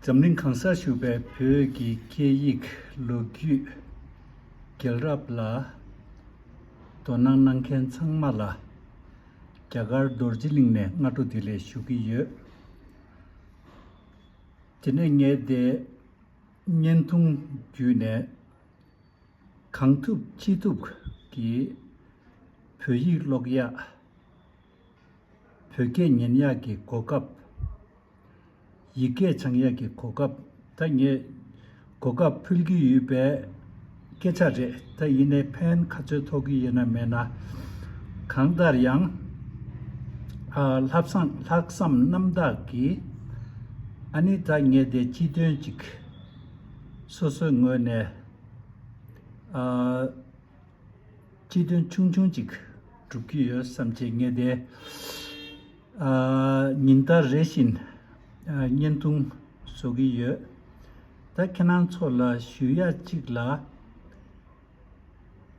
འཛམ་གླིང་གང་སར་བཞུགས་པའི་བོད་ཀྱི་སྐད་ཡིག་ལོ་རྒྱུས། རྒྱལ་རབས་ལ་དོ་སྣང་གནང་མཁན་ཚང་མ་ལ། རྒྱ་གར་རྡོ་རྗེ་གླིང་ནས་སྔ་དྲོ་དེ་ལས་ཞུ་གི་ཡོད། དེ་ནས་ངས་དེ་བརྙན་ཐུང་བརྒྱུད་ནས་གང་ཐུབ་ཅི་ཐུབ་ཀྱིས་བོད་ཡིག་ཀློག་ཡག། བོད་སྐད་ཉན་ཡག་གི་གོ་སྐབས། ཡིག་སྐད་སྦྱང་ཡག་གི་གོ་སྐབས་ད་ངས་གོ་སྐབས་ཕུལ་གྱི་ཡོད་པའི་སྐད་ཆ་རེད་ད་ཡིན་ནའི་ཕན་ག་ཚོད་ཐོག་གི་ཡོད་ན་མེད་ན་གང་ལྟར་ཡང་ལྷག་བསམ་རྣམ་དག་གིས་ཨ་ནི་ད་ངས་དེ་སྤྱི་དོན་ཅིག་སོ་སོའི་ངོས་ནས་སྤྱི་དོན་ཆུང་ཆུང་ཅིག་སྒྲུབ་ཀྱི་ཡོད་བསམ་བྱེད་ངེས་ཏེ། ཉིན་ལྟར་རེ་བཞིན་བརྙན་ཐུང་བཟོ་གི་ཡོད། ད་ཁྱེད་རང་ཚོ་ལ་ཞུ་ཡ་གཅིག་ལ།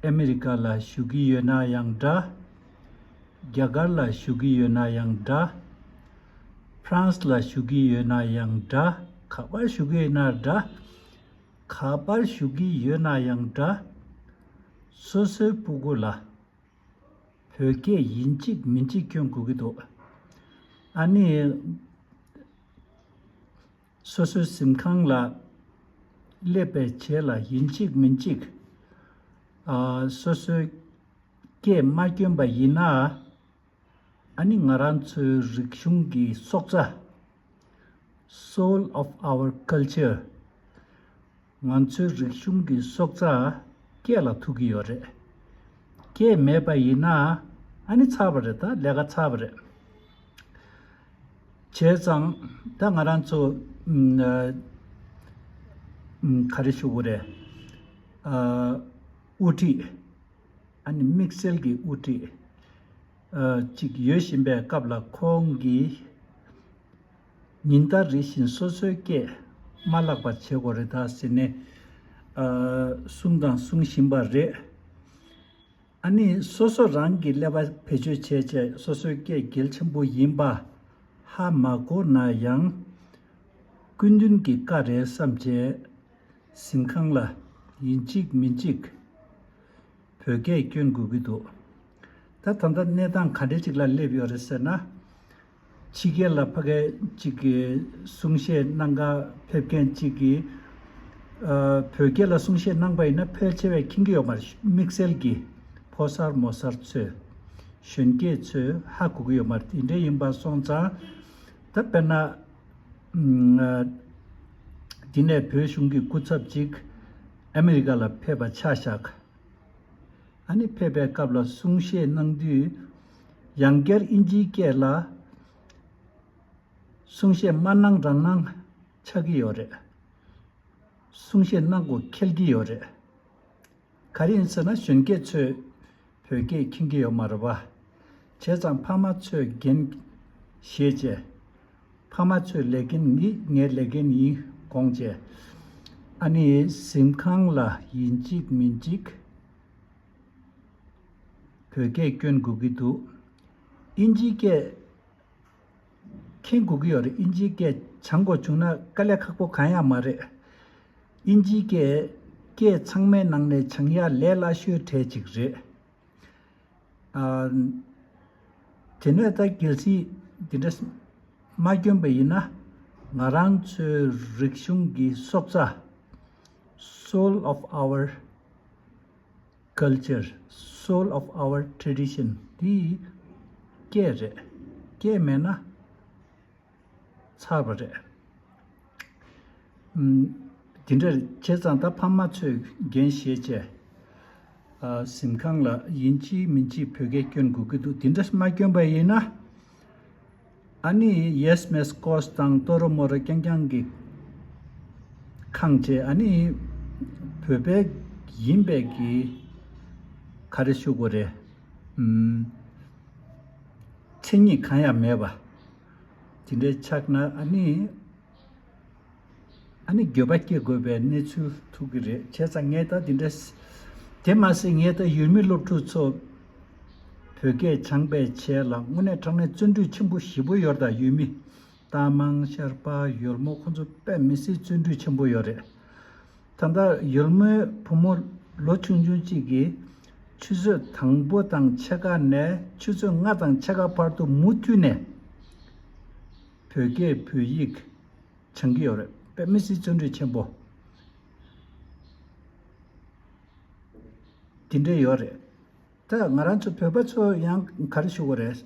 ཨ་མི་རི་ཀ་ལ་ཞུ་གི་ཡོད་ན་ཡང་འདྲ། རྒྱ་གར་ལ་ཞུ་གི་ཡོད་ན་ཡང་འདྲ། ཧྥ་རན་སི་ལ་ཞུ་གི་ཡོད་ན་ཡང་འདྲ་ག་པར་ཞུ་གི་ཡོད་ན་འདྲ། ག་པར་ཞུ་གི་ཡོད་ན་ཡང་འདྲ། སོ་སོའི་སྤུ་སྒོ་ལ། བོད་སྐད་ཡིན་གཅིག་མིན་གཅིག་སྐྱོན་དགོས་ཀྱི་འདུག། ཨ་ནི། སོ་སོའི་གཟིམ་ཁང་ལ། སླེབས་པའི་བྱེད་ལ་ཡིན་གཅིག་མིན་གཅིག། སོ་སོའི་སྐད་མ་སྐྱོན་པ་ཡིན་ན། ཨ་ནི་ང་རང་ཚོའི་རིག་གཞུང་གི་སྲོག་རྩ། Soul of our Culture། ང་ཚོའི་རིག་གཞུང་གི་སྲོག་རྩ་སྐད་ལ་ཐུག་གི་ཡོད་རེད། སྐད་མེད་པ་ཡིན་ན་ཨ་ནི་ཚར་བ་རེད་ད་ལས་ཀ་ཚར་བ་རེད། བྱས་ཙང་ད་ང་རང་ཚོ་ག་རེ་ཞུ་གི་རེད། དབུ་ཁྲིད། ཨ་ནི་དམིགས་བསལ་གྱི་དབུ་ཁྲིད་ཅིག་ཡོད་བཞིན་པའི་སྐབས་ལ་ཁོང་གིས། ཉིན་ལྟར་རེ་བཞིན་སོ་སོའི་སྐད་མ་བརླག་པ་བྱེད་དགོས་རེད་ད་ཟེར་ནས་གསུངས་དང་གསུང་བཞིན་པ་རེད། ཨ་ནི་སོ་སོ་རང་གིས་ཀླད་པ་བེད་སྤྱོད་བྱས་བྱས་སོ་སོའི་སྐད་གལ་ཆེན་པོ་ཡིན་པ་ཧ་མ་གོ་ན་ཡང། སྐུ་མདུན་གྱི་བཀའ་རེད་བསམ་བྱས། གཟིམ་ཁང་ལ་ཡིན་གཅིག་མིན་གཅིག། བོད་སྐད་བསྐྱོན་དགོས་ཀྱི་འདུག་ད་ད་ལྟ་གནས་སྟངས་ག་འདྲའི་ཅིག་ལ་སླེབས་ཡོད་རེད་ཟེར་ན། ཕྱི་རྒྱལ་ལ་ཕ་སྐད་ཅིག་གི་གསུང་བཤད་གནང་ག་ཕེབས་མཁན་གཅིག་གིས། བོད་སྐད་ལ་གསུང་བཤད་གནང་པ་ཡིན་ན་ཕལ་ཆེ་བས་མཁྱེན་གྱི་ཡོད་མ་རེད་དམིགས་བསལ་གྱིས་ཕོ་གསར་མོ་གསར་ཚོས། གཞོན་སྐྱེས་ཚོས་ཧ་གོ་གི་ཡོད་མ་རེད་དེ་འདྲ་ཡིན་པ་སོང་ཙང། ད་དཔེར་ན། འདི་ནས་བོད་གཞུང་གི་སྐུ་ཚབ་ཅིག་ཨ་མི་རི་ཀ་ལ་ཕེབས་པ་ཆ་བཞག་ཨ་ནེ་ཕེབས་པའི་སྐབས་ལ་གསུང་བཤད་གནང་དུས། ཡང་བསྐྱར་དབྱིན་ཇིའི་སྐད་ལ་གསུང་བཤད་མ་གནང་རང་གནང་ཆགས་ཀྱི་ཡོད་རེད། གསུང་བཤད་གནང་དགོས་ཁེལ་གྱི་ཡོད་རེད། ག་རེ་ཡིན་ཟེར་ན་གཞོན་སྐྱེས་ཚོས། བོད་སྐད་མཁྱེན་གྱི་ཡོད་མ་རེད་བ། བྱས་ཙང་ཕ་མ་ཚོས་འགན། ཞེས་བྱས། ཕ་མ་ཚོས་ལས་འགན་ནི་ངའི་ལས་འགན་ཡིན་དགོངས་བྱས། ཨ་ནེའི་གཟིམ་ཁང་ལ་ཡིན་གཅིག་མིན་གཅིག། བོད་སྐད་བསྐྱོན་དགོས་ཀྱི་འདུག། ཨིན་ཇིའི་སྐད། མཁྱེན་དགོས་ཀྱི་ཡོད་རེད་དབྱིན་ཇིའི་སྐད་བྱང་དགོས་བྱུང་ན་དཀའ་ལས་ཁག་པོ་གང་ཡང་མ་རེད། དབྱིན་ཇིའི་སྐད་སྐད་ཚང་མའི་ནང་ནས་བྱང་ཡ་ལས་སླ་ཤོས་གྲས་གཅིག་རེད། དེ་ནས་ད་གལ་སྲིད་དེ་འདྲ་མ་སྐྱོན་པ་ཡིན་ན་ང་རང་ཚོའི་རིག་གཞུང་གི་སྲོག་རྩ། Soul of our། Culture Soul of our Tradition འདི་སྐད་རེད། སྐད་མེད་ན། ཚར་བ་རེད། འདི་འདྲ་བྱས་ཙང་ད་ཕ་མ་ཚོས་རྒན་གཞས་བྱས། གཟིམ་ཁང་ལ་ཡིན་གཅིག་མིན་གཅིག་བོད་སྐད་སྐྱོན་དགོས་ཀྱི་འདུག་འདི་འདྲ་མ་སྐྱོན་པ་ཡིན་ན། ཨ་ནི་ཡེས་མེས་ཀོས་དང་ཏོ་རོ་མོ་རོ་རྐྱང་རྐྱང་གི་ཁངས་བཅས་ཨ་ནི་བོད་པའི་ཡིན་པས་ཀྱི་ཁ་རེ་ཤུ་གོ་རེ་མཚན་ཉིད་གང་ཡང་མེད་པ་ཇི་འདྲའི་ཆགས་ན་ཨ་ནི། ཨ་ནི་འགྱོད་པ་སྐྱེ་དགོས་པའི་གནས་ཚུལ་ཐུག་གི་རེད་ཁྱེད་ཚ་ངས་ད་དེ་འདྲ། དེ་མ་ཟད་ངས་ད་ཡུལ་མི་སློབ་ཕྲུག་ཚོ། བོད་སྐད་སྦྱངས་པའི་ཆེད་ལ་དངོས་གནས་དྲང་གནས་བརྩོན་འགྲུས་ཆེན་པོ་བཞི་པོ་ཡོད་ད་ཡུལ་མི། རྟ་མང་ཤར་པ་ཡོལ་མོ་ཁོ་ཚོ་དཔེ་མི་སྲིད་བརྩོན་འགྲུས་ཆེན་པོ་ཡོད་རེད། ད་ལྟ་ཡོལ་མོའི་བུ་མོ་ལོ་ཆུང་ཆུང་གཅིག་གིས། ཆུ་ཚོད་དང་པོ་དང་ཕྱེད་ཀ་ནས་ཆུ་ཚོད་ལྔ་དང་ཕྱེད་ཀ་བར་དུ་མུ་མཐུད་ནས། བོད་སྐད་བོད་ཡིག་སྦྱང་གི་ཡོད་རེད་པད་མི་སི་བརྩོན་འགྲུས་ཆེན་པོ། དེ་འདྲ་ཡོད་རེད་ད་ང་རང་ཚོ་བོད་པ་ཚོ་ཡང་ག་རེ་ཞུ་གི་རེད།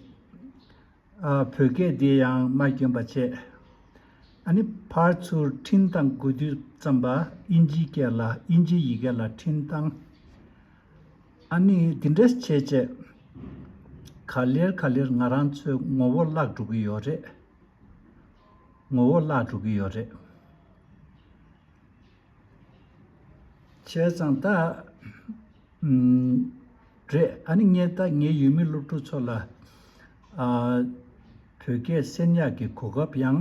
བོད་སྐད་འདི་ཡང་མ་སྐྱོན་པ་བྱས། ཨ་ནི་ཕར་ཚུར་འཕྲིན་བཏང་དགོས་དུས་ཙམ་པ་དབྱིན་ཇིའི་སྐད་ལ་དབྱིན་ཇིའི་ཡི་གེ་ལ་འཕྲིན་བཏང། ཨ་ནི་འདི་འདྲ་བྱས་བྱས། ག་ལེར་ག་ལེར་ང་རང་ཚོའི་ངོ་བོ་བརླག་འགྲོ་གི་ཡོད་རེད། ངོ་བོ་བརླག་འགྲོ་གི་ཡོད་རེད། བྱས་ཙང་ད། རེད། ཨ་ནི་ངས་ད་ངའི་ཡུལ་མི་སློབ་ཕྲུག་ཚོ་ལ། བོད་སྐད་གསན་ཡག་གི་གོ་སྐབས་ཡང།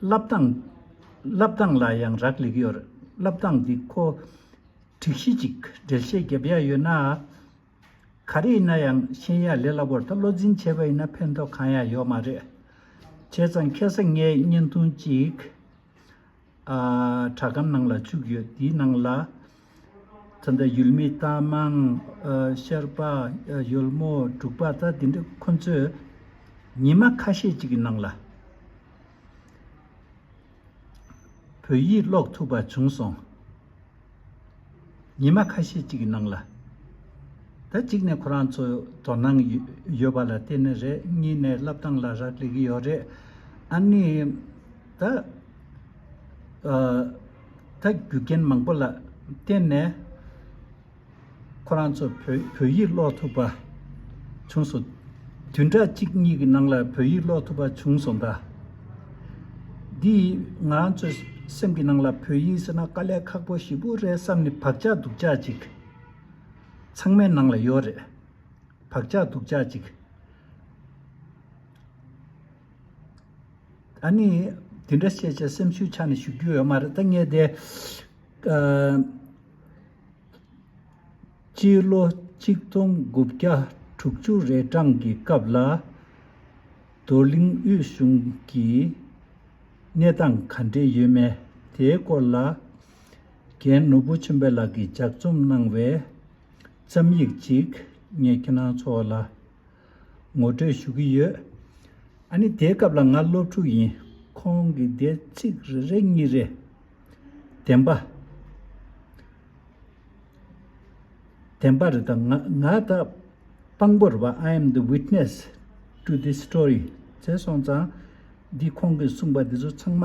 བསླབ་སྟངས། བསླབ་སྟངས་ལ་ཡང་རག་ལས་ཀྱི་ཡོད། བསླབ་སྟངས་འདི་ཁོ། དྲིག་གཞི་ཅིག་འགྲེལ་བཤད་བརྒྱབ་ཡ་ཡོད་ན། ག་རེ་ཡིན་ན་ཡང་ཤེས་ཡ་ལས་སླ་བོར་ད་བློ་འཛིན་བྱས་པ་ཡིན་ན་ཕན་ཐོག་གང་ཡང་ཡོད་མ་རེད། བྱས་ཙང་ཁྱེད་ས་ངའི་བརྙན་ཐུང་གཅིག། དྲ་སྒམ་ནང་ལ་བཅུག་ཡོད་དེའི་ནང་ལ། ཚོན་མདའ་ཡུལ་མི་རྟ་མང་ཤར་པ་ཡུལ་མོ་འབྲུག་པ་ད་དེ་འདྲ་ཁོ་ཚོས་ཉི་མ་ཁ་ཤས་ཅིག་གི་ནང་ལ་བོད་ཡིག་ཀློག་ཐུབ་པ་བྱུང་སོང། ཉི་མ་ཁ་ཤས་ཅིག་གི་ནང་ལ། ད་གཅིག་ནས་ཁོ་རང་ཚོ་དོ་སྣང་ཡོད་པ་ལ་བརྟེན་ནས་རེད་གཉིས་ནས་བསླབ་སྟངས་ལ་རག་ལས་ཀྱི་ཡོད་རེད། ཨ་ནི། ད་ལྟ་རྒྱུ་རྐྱེན་མང་པོ་ལ་བརྟེན་ནས་ཁོ་རང་ཚོ་བོད་ཡིག་ཀློག་ཐུབ་པ་བྱུང་སོང། དུས་འདྲ་གཅིག་གཉིས་ཀྱི་ནང་ལ་བོད་ཡིག་ཀློག་ཐུབ་པ་བྱུང་སོང་ད། འདི་ཡིས་ང་རང་ཚོའི་སེམས་ཀྱི་ནང་ལ་བོད་ཡིག་ཟེར་ན་དཀའ་ལས་ཁག་པོ་ཞིག་པོ་རེད་བསམ་ནས་བག་ཆགས་སྡུག་ཅག་ཅིག་ཚང་མའི་ནང་ལ་ཡོད་རེད། བག་ཆགས་སྡུག་ཅག་ཅིག། ད་ནི་དེ་འདྲ་བཤད་ཆེད་སེམས་ཤུགས་ཆག་ནས་ཞུ་རྒྱུ་ཡོད་མ་རེད་ད་ངས་དེ། སྤྱི་ལོ་གཅིག་སྟོང་དགུ་བརྒྱ་དྲུག་ཅུ་རེ་གྲངས་ཀྱི་སྐབས་ལ། རྡོར་གླིང་དབུས་གཞུང་གི་གནས་སྟངས་ག་འདྲས་ཡོད་མེད་དེའི་སྐོར་ལ། རྒན་ནོར་བུ་ཆེན་པོ་ལགས་ཀྱིས་ལྗགས་རྩོམ་གནང་བའི་རྩོམ་ཡིག་ཅིག་ངས་ཁྱེད་རང་ཚོ་ལ། ངོ་སྤྲོད་ཞུ་གི་ཡོད། ཨ་ནི་དེའི་སྐབས་ལ་ང་སློབ་ཕྲུག་ཡིན། ཁོང་གིས་དེར་ཚིག་རེ་རེ་གཉིས་རེ། བདེན་པ། བདེན་པ་རེད་དང། ང་ད་དཔང་པོ་རེད་པ I am the witness to this story ཟེར་སོང་ཙང། འདི་ཁོང་གིས་གསུངས་པ་འདི་ཚོ་ཚང་མ་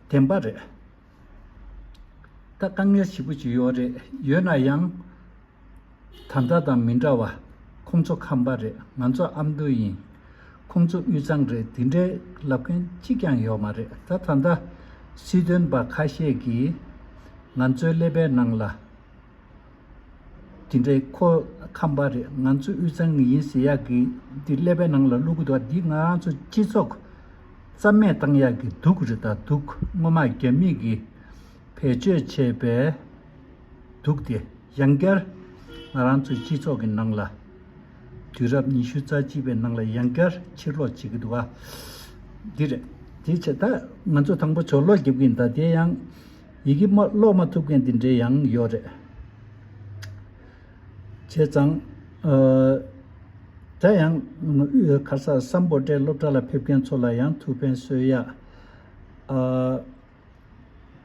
བདེན་པ་རེད། ད་དཀའ་ངལ་ཞིག་པོ་ཅིག་ཡོད་རེད་ཡོད་ན་ཡང། ད་ལྟ་དང་མི་འདྲ་བ། ཁོང་ཚོ་ཁམས་པ་རེད་ང་ཚོ་ཨ་མདོ་ཡིན། ཁོང་ཚོ་དབུས་གཙང་རེད་དེ་འདྲའི་ལབ་མཁན་གཅིག་ཀྱང་ཡོད་མ་རེད་ད། ད་ལྟ་སྲིད་དོན་པ་ཁ་ཤས་ཀྱིས་ང་ཚོའི་ཀླད་པའི་ནང་ལ། དེ་འདྲའི་ཁོ་ཁམས་པ་རེད་ང་ཚོ་དབུས་གཙང་གི་ཡིན་ཟེར་ཡག་གི་འདི་ཀླད་པའི་ནང་ལ་བླུག་གི་འདུག་འདི་ང་རང་ཚོ་སྤྱི་ཚོགས་རྩ་མེད་བཏང་ཡག་གི་འདུག་རེད་ད་འདུག་སྔོན་མ་རྒྱ་མིས་ཀྱི་བེད་སྤྱོད་བྱས་པས་འདུག་དེ་ཡང་བསྐྱར་ང་རང་ཚོའི་སྤྱི་ཚོགས་ཀྱི་ནང་ལ་དུས་རབས་ཉི་ཤུ་རྩ་གཅིག་པའི་ནང་ལ་ཡང་བསྐྱར་ཕྱིར་ལོག་བྱེད་ཀྱི་འདུག་འདི་རེད་དེ་ཆེད་ད་ང་ཚོ་དང་པོ་ཆོག་ལོག་རྒྱབ་ཀྱི་འདུག་དེ་ཡང། ཡི་གེ་མ་ཀློག་མ་ཐུབ་མཁན་དེ་འདྲའི་ཡང་ཡོད་རེད། བྱས་ཙང། ད་ཡང། ཁ་སང་སམ་པོ་ཏའི་སློབ་གྲྭ་ལ་ཕེབས་མཁན་ཚོ་ལ་ཡང་ཐུགས་ཕན་གསོས་ཡ།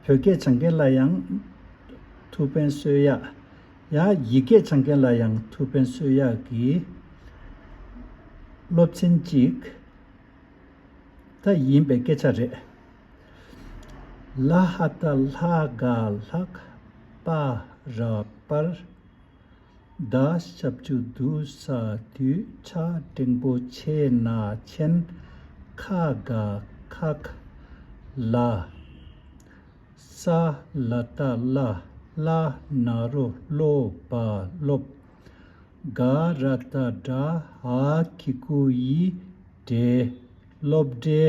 བོད་སྐད་སྦྱང་མཁན་ལ་ཡང། ཐུགས་ཕན་གསོས་ཡ། ཡང་ཡི་གེ་སྦྱང་མཁན་ལ་ཡང་ཐུགས་ཕན་གསོས་ཡ་གི། སློབ་ཚན་གཅིག། ད་ཡིན་པའི་སྐད་ཆ་རེད། ལ་ཧ་ད་ལྷ་དགའ་ལྷག་པ་རག་པར་གདའ། ཞབས་ཀྱུ་དུ་ས་དུས་ཆ་འབྲིང་པོ་ཆེ་ན་མཆན་ཁ་དགའ་ཁག་ལ། ས་ལ་ད་ལ་བླ་ན་རུ་ལོ་བ་སློབ། དགའ་ར་ད་དགྲ་ཧ་ཁི་ཀུ་ཡི་འདྲེ་སློབ་འདྲེ།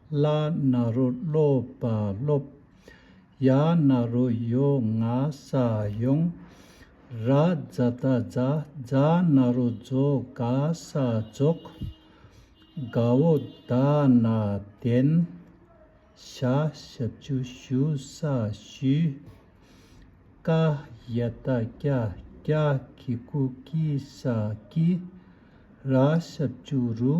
ལ་ན་རོ་སློབ་པ་སློབ། ཡ་ན་རོ་ཡོ་ང་ས་ཡོང། ར་ཛ་ད་ཛ་ཛ་ན་རོ་རྫོ་ག་ས་རྫོགས། ག་བོ་ད་ན་དན། ཤ་ཤ་བཅུ་ཤུ་ས་ཤུས། ཀ་ཡ་ད་ཀྱ་ཀྱ་ཀི་ཀུ་ཀི་ས་ཀི། ར་ཤ་བཅུ་རུ།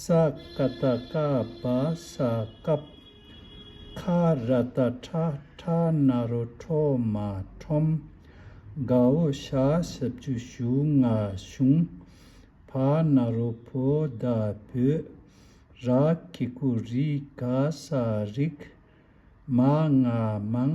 ས་ཀ་ད་ཀ་བ་ས་ཀབ། ཁ་ར་ད་ཁྲ་ཁྲ་ན་རོ་ཁྲོ་མ་ཁྲོམ། དགའ་བོ་ཤ་ཤི་བཅུ་ཞུ་ང་ཤུང། ཕ་ན་རོ་ཕོ་ད་བུ། ར་ཁི་ཁུ་རི་ག་ས་རིག། མ་ང་མང།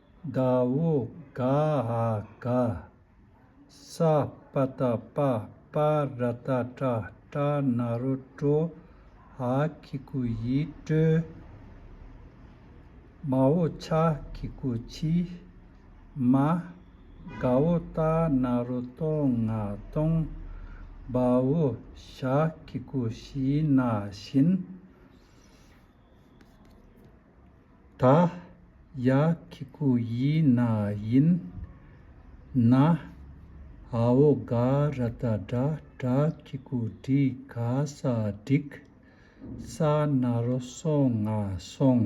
ཟླ་བོ་ག་ཨ་ག་ས་པ་ཏ་པ་པ་ར་ཏ་ཏྲ་ཏྲ་ན་རོ་ཀྲོ་ཨ་ཁི་ཀུ་ཡི་ཀྲོའི་མ་བོ་ཆ་ཁི་ཀུ་ཆིའི་མ་ག་བོ་ཏ་ན་རོ་ཏོ་ང་ཏོང་བ་བོ་ཤ་ཁི་ཀུ་ཤིའི་ན་བཞིན། ད་ཡ་ཁི་ཁུ་ཡི་ན་ཡིན་ན་ཧའོ་ག་ར་ད་དྲ་དྲ་ཁི་ཁུ་དྲི་ག་ས་དྲིག་ས་ན་རོ་སོང་ང་སོང་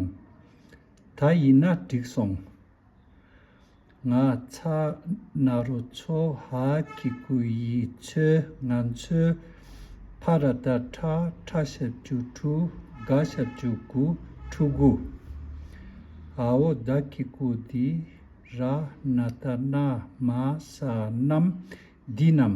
ད་ཡིན་ན་དྲིག་སོང། ང་ཚ་ན་རོ་ཚོ་ཧ་གི་གུ་ཡི་ཚོས་ང་ཚོའི་ཕ་ར་ད་ཁྲ་ཁྲ་ཞབས་བཅུ་དྲུ་ག་ཞབས་བཅུ་གུ་ཁྲུ་གུ། ཨ་བོ་ད་གི་གུ་དི་ར་ན་ད་ན་མ་ས་ནམ་དི་ནམ།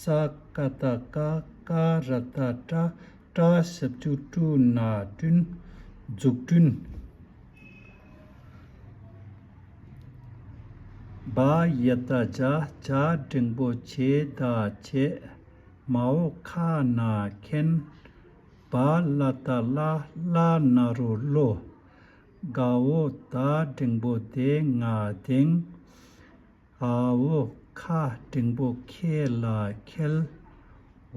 ས་ཀ་ད་ཀ་ཀ་ར་ད་ཀྲ་ཀྲ་ཞབས་ཀྱུ་ཀྲུ་ན་ཀྲུན་འཛུགས་སྐྲུན། བ་ཡི་ད་བྱ་བྱ་འབྲིང་པོ་ཆེ་ད་ཆེ་མ་འོ་ཁ་ན་ཁེན། བ་ལ་ད་ལ་ལ་ན་རོ་ལོ། ག་འོ་ད་འབྲིང་པོ་དེ་ང་དེང། ཧ་བོ་ཁ་འབྲིང་པོ་ཁྱེད་ལ་ཁེལ།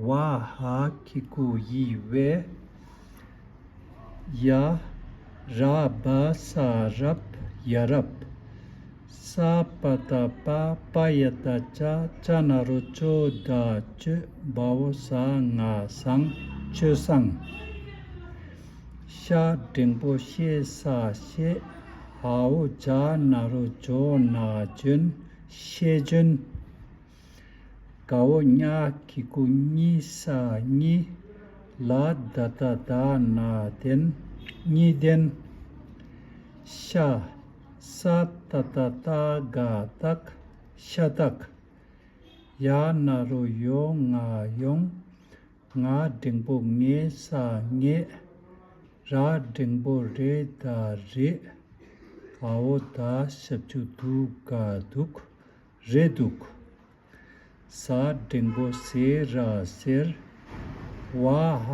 བ་ཧ་ཁྱི་གུ་ཡིས་བས། ཡ། ར་སྦ་ས་རབ་ཡ་རབ། ས་པ་ད་པ་པ་ཡ་ད་ཅ་ཅ་ན་རོ་ཅོ་ད་ཅོས་སྦ་བོ་ས་ང་སང་ཅོས་སང། ཤ་འབྲིང་པོ་ཤེ་ས་ཤེ། ཧཱུྃ་བྱ་ན་རུ་ཇོ་ན་ཇོན་ཤེ་ཇོན། ག་འོ་ཉ་ཀི་ཀུ་ཉི་ས་ཉི། ལ་ད་ད་ད་ན་དན་ཉི་དན། ཤ་ས་ཏ་ཏ་ཏ་ག་ཏག་ཤ་ཏག། ཡ་ན་རུ་ཡོ་ང་ཡོང། ང་འབྲིང་པོ་ངའི་ས་ངས། ར་འབྲིང་པོ་རེ་ད་རེད། ག་བོ་ད་ཞབས་ཆུ་འདུག་ག་འདུག་རེད་འདུག། ཟ་འབྲིང་པོ་ཟེ་ར་ཟེར། བ་ཧ་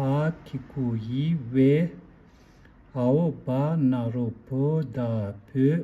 ཁི་ཁུ་ཡི་ཝེ། ཨ་བོ་བ་ན་རོ་བོ་ད་བོས།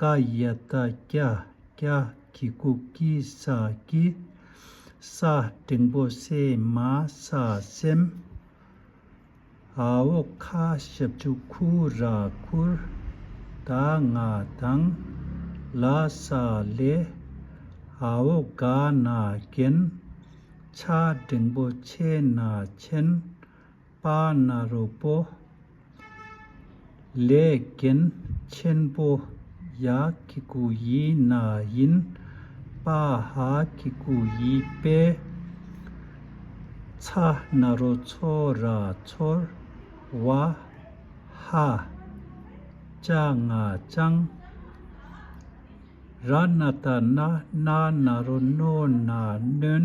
ཀ་ཡི་ད་ཀྱ་ཀྱ་གི་ཀུ་ཀི་ས་ཀི། ས་སྤྲིན་པོ་སེ་མ་ས་སེམས། ཨ་འོ་ཁ་ཞབས་ཆུ་ཁུ་ར་ཁུར། ད་ང་དང་ལ་ས་ལེ། ཨ་འོ་ག་ན་གན། ཆ་སྦྲིན་པོ་ཆེ་ན་ཆེན། པ་ནཱ་རོ་པོ། ལས་རྒན་ཆེན་པོ་ཡ་ཀི་ཀུ་ཡི་ན་ཡིན་པ་ཧ་ཀི་ཀུ་ཡི་པའི་ཚ་ནཱ་རོ་ཚོ་ར་ཚོར་བ་ཧ་ཅ་ང་ཅང་ར་ནཱ་ཏཱ་ན་ནཱ་ནཱ་རོ་ནོ་ནཱ་ནོན་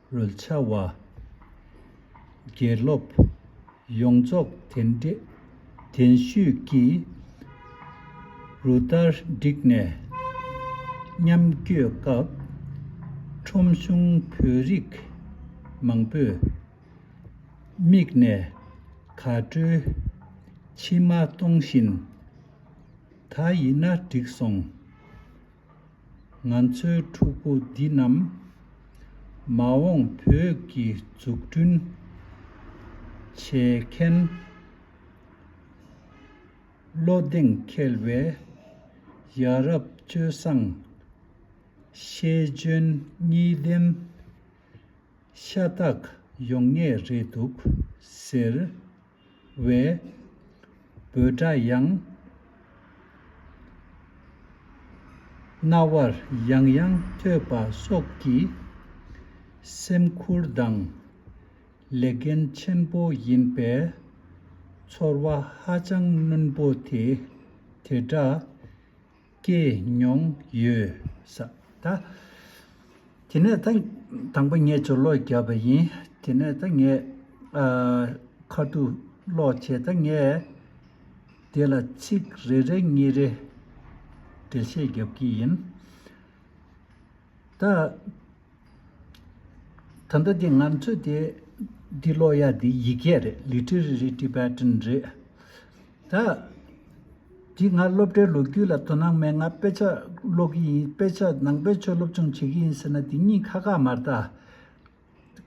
རོལ་ཆ་བ། དགེ་སློབ། ཡོངས་རྫོགས་དེ་འདྲེ་གདན་ཞུས་ཀྱིས། རུ་བསྟར་བསྒྲིགས་ནས། མཉམ་བསྐྱོད་སྐབས། ཁྲོམ་གཞུང་བོད་རིགས་མང་པོས། མིག་ནས་ག་བྲོའི་མཆི་མ་གཏོང་བཞིན། ད་ཡིན་ན་འགྲིག་སོང། ང་ཚོའི་ཕྲུ་གུ་འདི་རྣམས། མ་འོངས་བོད་ཀྱི་འཛུགས་སྐྲུན་བྱེད་མཁན། བློ་གདེང་འཁེལ་བའི་ཡ་རབས་སྤྱོད་བཟང། ཤེས་འཇོན་གཉིས་ལྡན་ཤ་སྟག་ཡོང་ངེས་རེད་འདུག་ཟེར། བའི། འབོད་སྒྲ་ཡང། རྣ་བར་ཡང་ཡང་ཐོས་པ་སོགས་ཀྱིས། སེམས་ཁུར་དང། ལས་འགན་ཆེན་པོ་ཡིན་པས། ཚོར་བ་ཧ་ཅང་རྣོན་པོ་དེ་དེ་འདྲ། སྐྱེས་མྱོང་ཡོད། ད་དེ་ནས་ད་དང་པོ་ངས་ཇོ་ལོག་བརྒྱབ་པ་ཡིན། དེ་ནས་ད་ངས་ཁ་ཐུག་ཀློག་བྱས་ད་ངས་དེ་ལ་ཚིག་རེ་རེ་གཉིས་རེ་འགྲེལ་བཤད་བརྒྱབ་ཀྱི་ཡིན། ད། ད་ལྟ་འདི་ང་ཚོས་དེ་འདི་ཀློག་ཡ་འདི་ཡི་གེ་རེད Literary Tibetan རེད། ད་འདི་ང་སློབ་གྲྭའི་ལོ་རྒྱུས་ལ་དོ་སྣང་མེད་ང་དཔེ་ཆ་ཀློག་གི་ཡིན་དཔེ་ཆ་ནང་པའི་ཆོས་སློབ་སྦྱོང་བྱེད་ཀྱི་ཡིན་ཟེར་ན་དེ་གཉིས་ཁ་ཁ་མ་རྟ།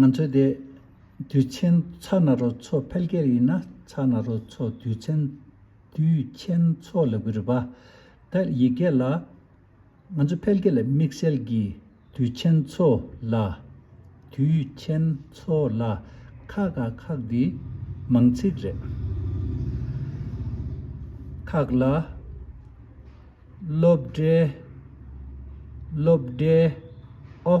ང་ཚོ་དེ་དུས་ཆེན་ཚགས་ན་རོ་ཚོ་ཕལ་སྐད་ཡིན་ན་ཚགས་ན་རོ་ཚོ་དུས་ཆེན་དུས་ཆེན་ཚོ་ལབ་གི་རེད་པ་ད་ཡིག་སྐད་ལ་ང་ཚོ་ཕལ་སྐད་ལ་དམིགས་བསལ་གྱི་དུས་ཆེན་ཚོ་ལ་དུས་ཆེན་ཚོ་ལ་ཁ་ག་ཁག་འདི་མང་ཚིག་རེད་ཁག་ལ་སློབ་གྲྭའི་སློབ་གྲྭའི་ཨོ།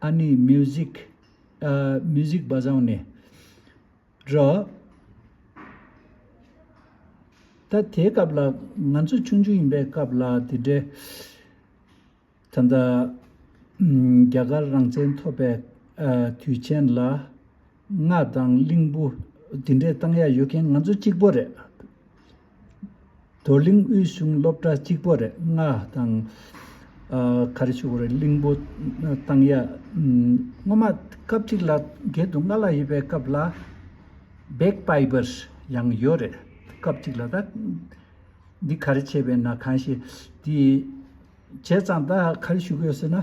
ཨ་ནི Music། Music Bazhao ནས། ར། ད་དེའི་སྐབས་ལ་ང་ཚོ་ཆུང་ཆུང་ཡིན་པའི་སྐབས་ལ་དེ་འདྲའི། ད་ལྟ། རྒྱ་གར་རང་བཙན་ཐོབ་པའི། དུས་ཆེན་ལ། སྔགས་དང་གླིང་བུ། དེ་འདྲའི་གཏང་ཡ་ཡོད་མཁན་ང་ཚོ་གཅིག་པོ་རེད། རྡོར་གླིང་དབུས་གཞུང་སློབ་གྲྭ་གཅིག་པོ་རེ་ལྔ་དང། ག་རེ་བྱུང་བ་རེད་གླིང་བུ་བཏང་ཡ། སྔོན་མ་སྐབས་གཅིག་ལ་བརྒྱད་དུ་ལྔ་ལ་ཡོད་པའི་སྐབས་ལ། Bagpipers། ཡང་ཡོད་རེད་སྐབས་གཅིག་ལ་ད། འདི་ག་རེ་བྱས་པས་ན་གང་ཞིག་དེ། བྱས་ཙང་ད་ག་རེ་བྱུག་ཡོད་ཟེར་ན།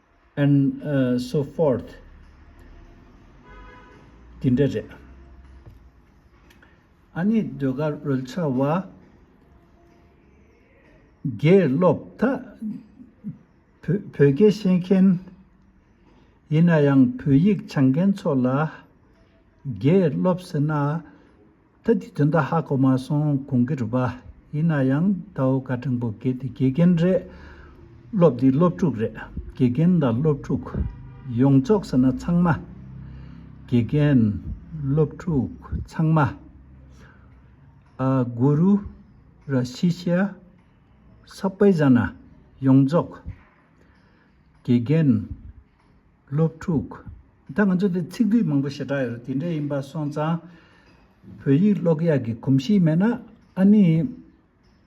and so forth དེ་འདྲ་རེད། ཨ་ནེ་ཟློས་གར་རོལ་ཆ་བ། དགེ་སློབ་དག་བོད་སྐད་ཤེས་མཁན། ཡིན་ན་ཡང་བོད་ཡིག་སྦྱང་མཁན་ཚོ་ལ་དགེ་སློབ་ཟེར་ན། ད་དེ་དོན་དག་ཧ་གོ་མ་སོང་གོང་གི་རུས་པ། ཡིན་ན་ཡང་ད་འོ་ཀ་སྤྲིན་པོ་གེ་དེ་དགེ་རྒན་རེད། སློབ་འདི་སློབ་ཕྲུག་རེད། དགེ་རྒན་དང་སློབ་ཕྲུག། ཡོངས་རྫོགས་ཟེར་ན་ཚང་མ། དགེ་རྒན། སློབ་ཕྲུག། ཚང་མ། ཨ། གུ་རུ། ར་ཤི་ཤ། སོག་པོའི་བཞག་ན། ཡོངས་རྫོགས། དགེ་རྒན། སློབ་ཕྲུག། ད་ང་ཚོ་འདིར་ཚིག་སྡུད་མང་པོ་ཞེ་དྲག་ཡོད་རེད་དེ་འདྲ་ཡིན་པ་སོང་ཙང། བོད་ཡིག་ཀློག་ཡག་གི་གོམས་གཤིས་མེད་ན་ཨ་ནི།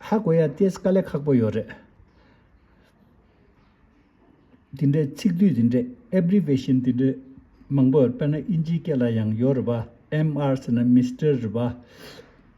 ཧ་གོ་ཡག་ཏེ་དཀའ་ལས་ཁག་པོ་ཡོད་རེད། དེ་འདྲའི་ཚིག་སྡུད་དེ་འདྲའི Abbreviation དེ་འདྲའི་མང་པོ་ཡོད་རེད་དཔེར་ན་དབྱིན་ཇིའི་སྐད་ལ་ཡང་ཡོད་རེད་པ MR ཟེར་ན Mister རེད་པ།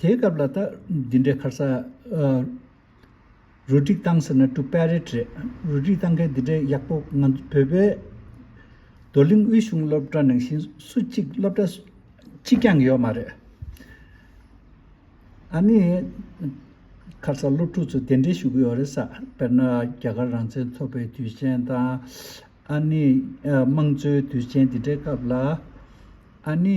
དེའི་སྐབས་ལ་ད། འདི་འདྲའི་ཁར་ས། རུ་སྒྲིག་བཏང་ཟེར་ན་དཀྲུག་པའི་རེད་རེད། རུ་སྒྲིག་བཏང་མཁན་འདི་འདྲའི་ཡག་པོ་ང་ཚོ་བོད་པའི། རྡོར་གླིང་དབུས་གཞུང་སློབ་གྲྭ་ནང་བཞིན་སུ་གཅིག་སློབ་གྲྭ། གཅིག་ཀྱང་ཡོད་མ་རེད། ཨ་ནི། ཁར་ས་སློབ་ཕྲུག་ཚོ་དེ་འདྲའི་ཞུ་གི་ཡོད་རེད་ས་དཔེར་ན་རྒྱ་གར་རང་བཙན་ཐོབ་པའི་དུས་ཆེན་དང། ཨ་ནི། དམངས་གཙོའི་དུས་ཆེན་འདི་འདྲའི་སྐབས་ལ། ཨ་ནི།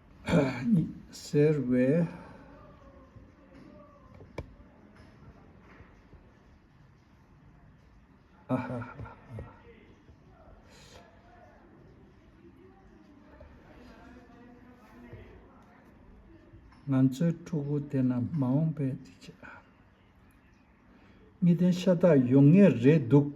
ཟེར་བས། ཧ་ཧ་ཧ། ང་ཚོའི་ཕྲུ་གུ་དེ་རྣམས་མ་འོངས་པའི་གཉིས་ལྡན་ཤ་སྟག་ཡོང་ངེས་རེད་འདུག།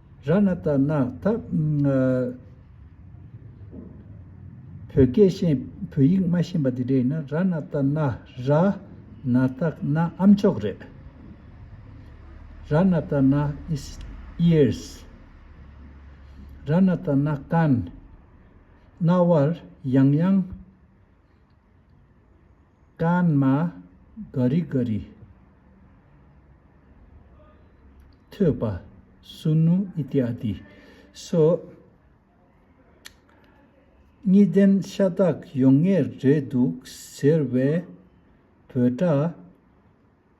ར་ན་ཏ་ན་ཐ། བོད་སྐད་ཤེས་བོད་ཡིག་མ་ཤེས་པ་དེ་འདྲ་ཡིན་ན་ར་ན་ཏ་ན་ར། ན་ཏ་ན་ཨམ་མཆོག་རེད། ར་ན་ཏ་ན is ears། ར་ན་ཏ་ན་ཀན། རྣ་བར་ཡང་ཡང། ཀན་མ་ག་རི་ཀ་རི། ཐོད་པ་སུ་ནུ་ཨི་ཏི་ཨ་ཏི་སོགས་གཉིས་ལྡན་ཤ་སྟག་ཡོང་ངེས་རེད་འདུག་ཟེར་བའི་བོད་སྒྲ།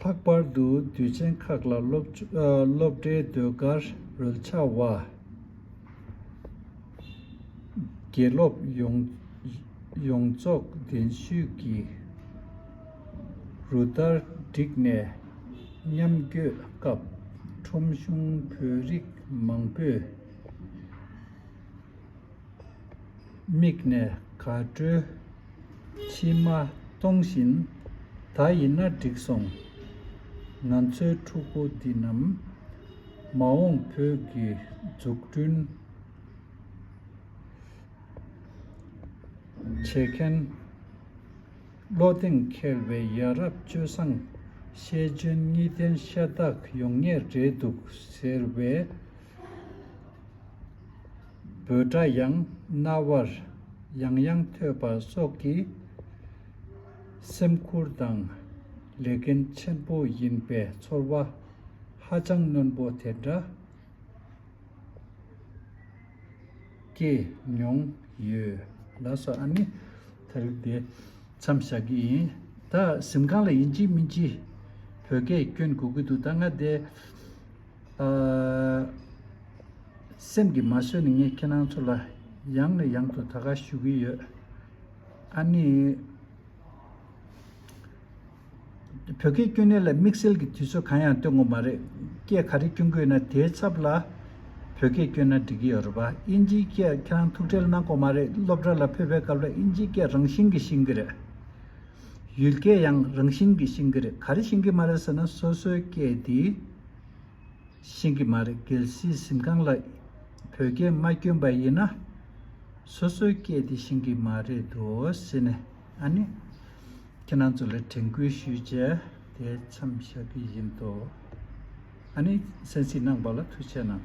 ལྷག་པར་དུ་དུས་ཆེན་ཁག་ལ་སློབ་གྲྭའི་ཟློས་གར་རོལ་ཆ་བ། དགེ་སློབ་ཡོངས་རྫོགས་གདན་ཞུས་ཀྱི་རུ་སྟར་བསྒྲིགས་ནས་མཉམ་བསྐྱོད་སྐབས་ཁྲོམ་གཞུང་བོད་རིགས་མང་པོས་མིག་ནས་ག་བྲོས་མཆི་མ་གཏོང་བཞིན། ད་ཡིན་ན་འགྲིག་སོང། ང་ཚོའི་ཕྲུ་གུ་འདི་རྣམས། མ་འོངས་བོད་ཀྱི་འཛུགས་སྐྲུན་བྱེད་མཁན། བློ་གདེང་འཁེལ་བའི་ཡ་རབས་སྤྱོད་བཟང་ཤེས་འཇོན་གཉིས་ལྡན་ཤ་སྟག་ཡོང་ངེས་རེད་འདུག་ཟེར་བས། འབོད་སྒྲ་ཡང་རྣ་བར་ཡང་ཡང་ཐོས་པ་སོགས་ཀྱིས་སེམས་ཁུར་དང་ལས་འགན་ཆེན་པོ་ཡིན་པའི་ཚོར་བ་ཧ་ཅང་རྣོན་པོ་དེ་འདྲ་སྐྱེས་མྱོང་ཡོད། ལ་སོགས་ཨ་ནི་ད་རིགས་དེ་མཚམས་བཞག་གི་ཡིན། ད་གཟིམ་ཁང་ལ་ཡིན་གཅིག་མིན་གཅིག་བོད་སྐད་བསྐྱོན་དགོས་ཀྱི་འདུག་ད་ང་དེ། སེམས་ཀྱི་མ་བཟོད་ནས་ངས་ཁྱེད་རང་ཚོ་ལ་ཡང་ནས་ཡང་དུ་ད་གའ་ཞུ་གི་ཡོད། ཨཱ་ནི། བོད་སྐད་སྐྱོན་གནས་ལ་དམིགས་བསལ་གྱི་དུས་ཚོད་གང་ཡང་སྟོན་དགོས་མ་རེད། སྐད་ག་རེ་སྐྱོན་དགོས་ན་དེའི་ཚབ་ལ་བོད་སྐད་སྐྱོན་ན་འགྲིག་གི་ཡོད་རེད་པ། དབྱིན་ཇིའི་སྐད་ཁྱེད་རང་ཐུགས་ཁྲལ་གནང་དགོས་མ་རེད་སློབ་གྲྭ་ལ་ཕེབས་པའི་སྐབས་ལ་དབྱིན་ཇིའི་སྐད་རང་བཞིན་གྱི་ཤེས་གི་རེད། ཡུལ་སྐད་ཡང་རང་བཞིན་གྱི་ཤེས་གི་རེད་ག་རེ་ཤེས་གི་མ་རེད་ཟེར་ན་སོ་སོའི་སྐད་དེ། ཤིང་གི་མ་རེད་གལ་སྲིད་གཟིམ་ཁང་ལ་བོད་སྐད་མ་བསྐྱོན་པ་ཡིན་ན། སོ་སོའི་སྐད་དེ་ཤིང་གི་མ་རེད་དོ་ཟེར་ནས་ཨ་ནི། ཁྱེད་རང་ཚོ་ལ་དྲན་སྐུལ་ཞུས་བྱས་དེ་མཚམས་བཞག་གི་ཡིན་དོ། ཨ་ནི་སེམས་གཟིགས་གནང་བ་ལ་ཐུགས་ཆེ་གནང།